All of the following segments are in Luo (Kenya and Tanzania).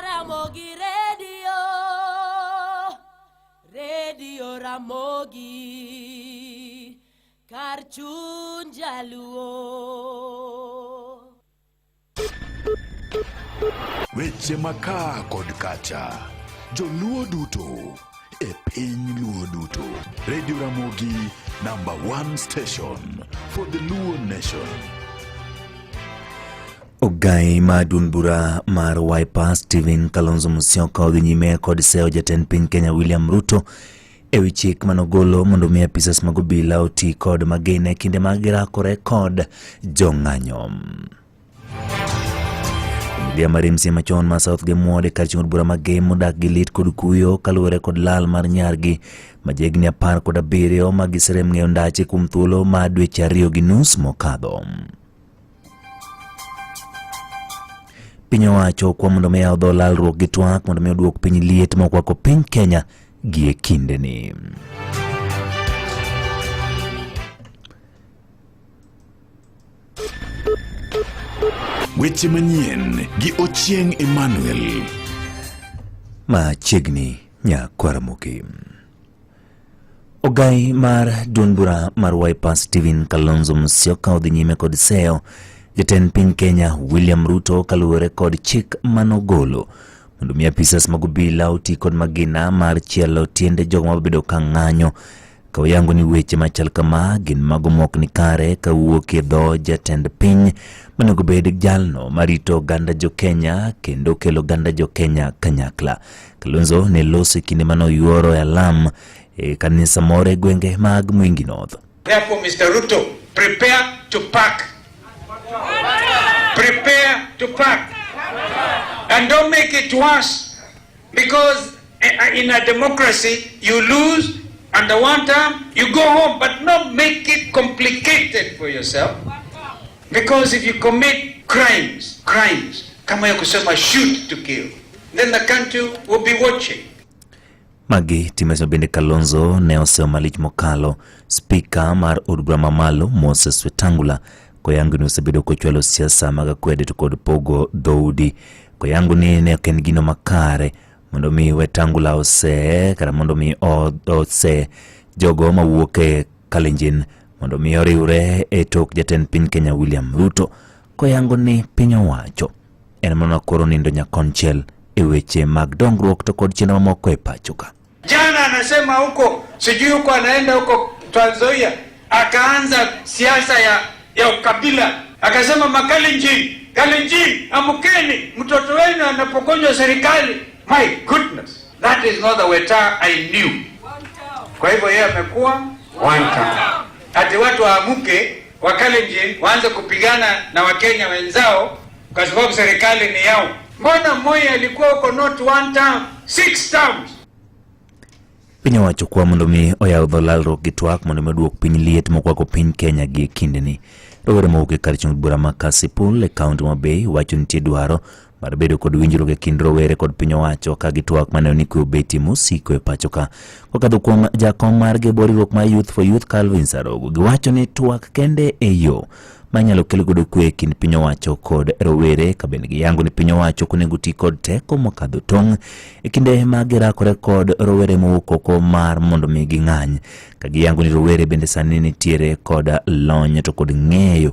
Ramogi Radio, Radio Ramogi, kar chuny jaluo. Weche makaa kod kacha, joluo duto e piny luo duto. Radio Ramogi, number one station for the Luo nation. Ogai ma duond bura mar Wiper Stephen Kalonzo Musyoka odhi nyime kod seyo jatend piny Kenya William Ruto e wi chik manogolo mondo mi apisas mag obila oti kod magina e kinde ma girakore kod jong'anyo. Familia mar MC machon ma South Gemwod e kar chieng' od bura ma Gem modak gi lit kod kuyo kaluwore kod lal mar nyargi ma jahigni apar kod abiriyo ma giserem ng'eyo ndache kuom thuolo ma dweche ariyo gi nus mokadho. Piny owacho kwa mondo mi odho lalruok gi twak mondo mi oduok piny liet mokwako piny Kenya gie kindeni. Weche manyien gi Ochieng Emmanuel. Machiegni nyakwar Mukim. Ogai mar duond bura mar Wiper Stephen Kalonzo Musyoka odhi nyime kod seyo jatend piny Kenya William Ruto kaluwore kod chik manogolo mondo mi apisas mag obila oti kod magina mar chielo tiende jogo mabedo ka ng'anyo ka wayango ni weche machal kama gin mago mok ni kare ka wuok e dho jatend piny monego bed jalno marito oganda jo Kenya kendo kelo oganda jo Kenya kanyakla. Kalonzo ne loso e kinde mane oyuoro e alam e kanisa moro e gwenge mag Mwingi North. Therefore, Mr. Ruto, prepare to pack. Prepare to pack. And don't make it worse because eh, eh, in a democracy you lose and the one time you go home but not make it complicated for yourself because if you commit crimes crimes kama ya kusema shoot to kill then the country will be watching. Magi timeso bende Kalonzo ne oseyo malich mokalo spika mar od bura mamalo Moses Wetangula koyango ni osebedo kochwalo siasa mag akwede to kod pogo dhoudi koyango ni ne ok en gino makare mondo mi Wetangula ose kata mondo mi ose jogo mawuok e Kalenjin mondo mi oriwre e tok jatend piny Kenya William Ruto Koyango ni piny owacho en mana koro nindo nyakonchiel e weche mag dongruok to kod chenro mamoko e pachoka. Jana anasema huko sijui huko anaenda huko Trans Nzoia akaanza siasa ya, ya ukabila akasema Makalenjin, Kalenjin, amkeni, mtoto wenu anapogonjwa serikali. My goodness, that is not the Weta I knew. Kwa hivyo yeye amekuwa one town, ati watu waamke Wakalenjin waanze kupigana na Wakenya wenzao kwa sababu serikali ni yao. Mbona Moi alikuwa huko not one term, six terms. Piny owacho kwa mondo mi oyaw dho lalruok gi twak mondo mi oduok piny liet mokwako piny Kenya gi kindeni. Rowere mowuok e kar chung' bura ma Kasipul e kaunti ma Bay wacho nitie dwaro mar bedo kod winjruok e kind rowere kod piny owacho ka gitwak maneno ni kwe obeti mosiko e pacho ka kokadho kuom jakom mar gebo riwruok mar Youth for Youth Calvin Sarogo giwacho ni twak kende e yo manyalo kelo godo kwe e kind piny owacho kod rowere ka bende giyango ni piny owacho ok onego ti kod teko mokadho tong' e kinde ma girakore kod rowere mowuok oko mar mondo mi ging'any ka giyango ni rowere bende sani nitiere kod lony to kod ng'eyo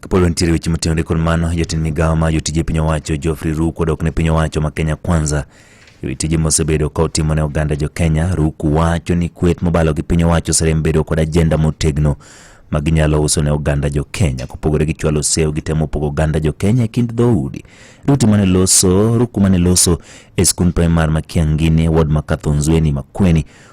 Kapolo nitiere weche motenore kod mano, jatend migawo ma jotije piny owacho Geoffrey Ruku odok ne piny owacho ma Kenya Kwanza e wi tije mosebedo ka otimo ne oganda jo Kenya. Ruku wacho ni kwet mobalo gi piny owacho oserem bedo kod ajenda motegno ma ginyalo uso ne oganda jo Kenya. Kopogore gi chwalo sew, gitemo pogo oganda jo Kenya e kind dhoudi. Ruti mane loso, Ruku mane loso e skund primar ma Kiangini, ward ma Kathonzweni, Makueni,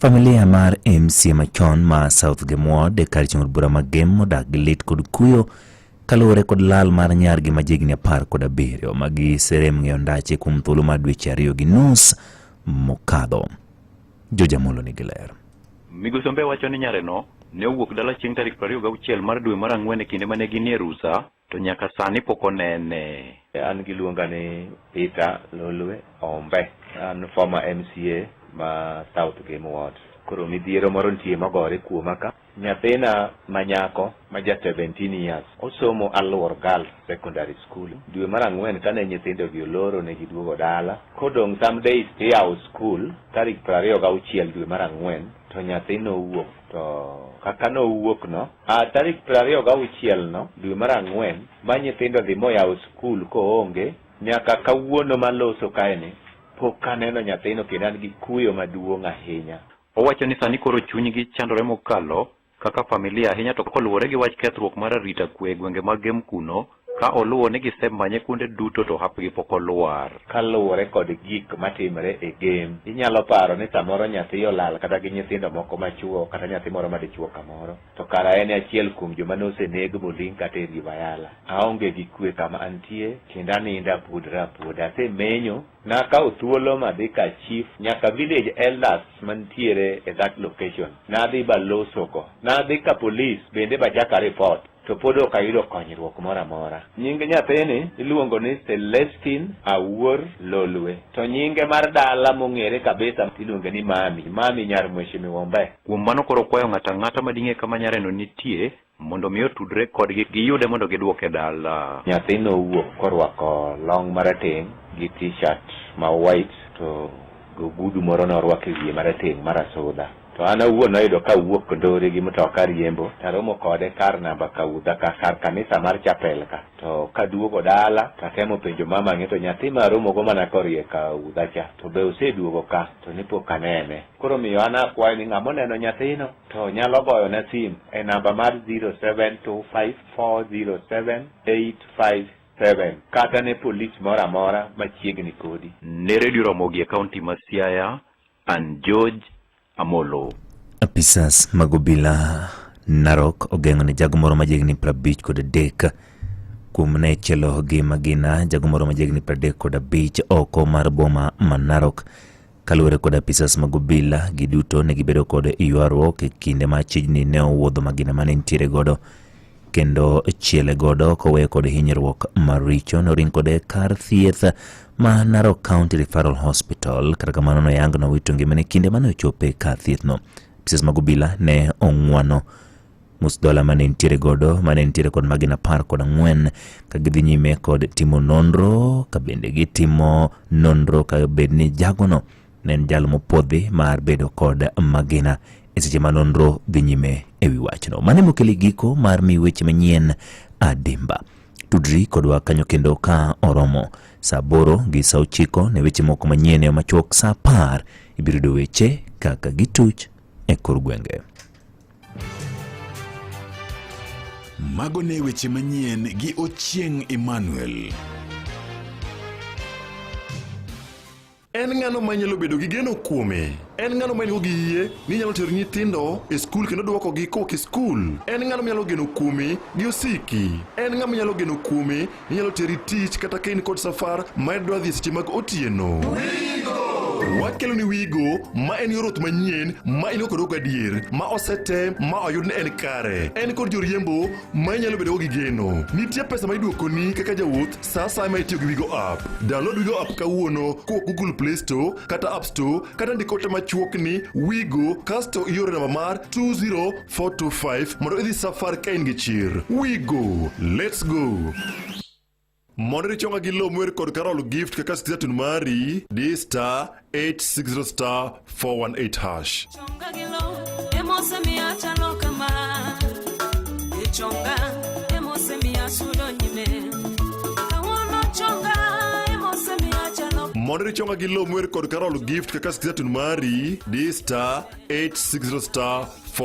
Familia mar MC machon ma South Gemwod e kar chieng' bura mag Gem modak gi lit kod kuyo kaluwore kod lal mar nyargi ma jigni apar kod abiriyo ma giserem ng'eyo ndache kuom thuolo mar dweche ariyo gi nus mokadho. Jojamolo nigi ler. Migosi Ombe wacho ni nyareno ne owuok dala chieng' tarik 26 mar dwe mar ang'wen e kinde ma ne ginie rusa To nyaka sani pok onene. An giluonga ni Peter Lolwe Ombe. An former MCA ma South Game Ward. Koro midhiero moro nitie mogore kuoma ka. Nyathina manyako ma ja 17 years osomo Aluor Girls Secondary School. Dwe mar ang'wen kane nyithindogi oloro ne giduogo dala. Kodong' some days tiyawo skul tarik prariyo gauchiel dwe mar ang'wen to nyathino owuok. To kaka nowuokno, a tarik piero ariyo gauchielno dwe mar ang'wen, ma nyithindo dhi moyawo skul koonge, nyaka kawuono maloso kaeni, pok aneno nyathino kendo an gi kuyo maduong' ahinya. Owacho ni sani koro chunygi chandore mokalo kaka familia ahinya to koluwore gi wach kethruok mar arita kwe e gwenge mag Gem kuno, Ka oluwo ni gisemanye kuonde duto to hapgi pok olwar. Kaluwore kod gik matimre e game, inyalo paro ni samoro nyathi olal kata gi nyithindo moko machuo kata nyathi moro madichuo kamoro. To kara en e achiel kuom joma noseneg moling' kata e rii bayala. Aonge gi kwe kama antie kendo aninda apuodora apuoda. Asemenyo Nakawo thuolo madhi ka chief nyaka village elders mantiere e that location. Nadhi baloso go. Nadhi ka police bende bachaka report to pod ok ayudo konyruok moro amora. Nying nyathini iluongo ni Celestine Awuor Lolwe to nyinge mar dala mong'ere kabisa iluonge ni Mami, Mami nyar Mheshimiwa Ombe. Kuom mano koro okwayo ng'ato ang'ata mading'e kama nyareno nitie Mondo mi otudre kodgi giyude mondo gidwoke dala. Nyathi nowuok korwako long marateng' gi t-shirt ma white to ogudu moro norwako e wiye marateng' marasudha. To an awuon noyudo ka wuok Kondori gi mtoka riembo taromo kode kar namba Kaudha ka kar kanisa mar chapel ka. To kaduogo dala tatemo penjo mama ni to nyathi maromogo mana koriye Kaudha cha to be oseduogo ka to ne pok anene. Koro omiyo an akwayo ni ng'ama oneno nyathino to nyalo goyona sim e namba mar 0725407857 kata ne polis moro amora machiegni kodi. Ne Redio Ramogi e kaunti ma Siaya, an George Amolo. Apisas mag obila Narok ogeng'o ne jago moro majegni 50 kod adek kuom ne chelo gi magina jago moro majegni 35 kod abich oko mar boma ma Narok Kaluwore kod apisas mag obila, giduto ne gibedo kod ywaruok e kinde ma chijni ne owuodho magina mane nitiere godo kendo chiele godo koweyo kod hinyruok maricho noring kode kar thieth ma Narok County Referral Hospital kata kamano noyang nowito ngimane kinde mane ochope kar thiethno. Apisas mag obila ne ong'wano Musdola mane nitiere godo mane nitiere kod magina apar kod ang'wen ka gidhi nyime kod timo nonro ka bende gitimo nonro ka bed ni jagono ne en jal mopodhi mar bedo kod magina e seche ma nonro dhi nyime e wi wachno. Mane mokeli giko mar mi weche manyien adimba. Tudri kodwa kanyo kendo ka oromo saa aboro gi saa ochiko ne weche moko manyien e machuok saa apar ibiro yudo weche kaka gituch e kor gwenge. Mago ne weche manyien gi Ochieng Emmanuel. En ng'ano ma nyalo bedo gi geno kuome? En ng'ano ma en-go gi yie ni nyalo tero nyithindo e skul kendo dwokogi kowok e skul? En ng'ano ma nyalo geno kuome gi osiki? En ng'ama nyalo geno kuome Inyalo teri tich kata ka in kod safar ma dwa dhi seche mag otieno. Wakelo ni Wigo ma en yor oth manyien ma in kod adier ma osetem ma oyud ni en kare. En kod joriembo ma inyalo bedo gi geno. Nitie pesa ma iduokoni kaka jawuoth sa asaya ma itiyo gi Wigo app. Download Wigo app kawuono kowuok Google Play Store kata App Store kata ndiko ote machuok ni Wigo kasto ioro namba mar 20 425 mondo idhi safar ka in gi chir we go let's go mondo richonga gi lo mwer kod karol gift kaka sitizatun mari di star 860 star 418 hash Chonga gilo, emose mi achalo kama. Chonga, emose mi asudo nyime. Kawuono chonga, emose mi achalo mondo richonga gi lo mwer kod karol gift kaka sitizatun mari di star 860 star 4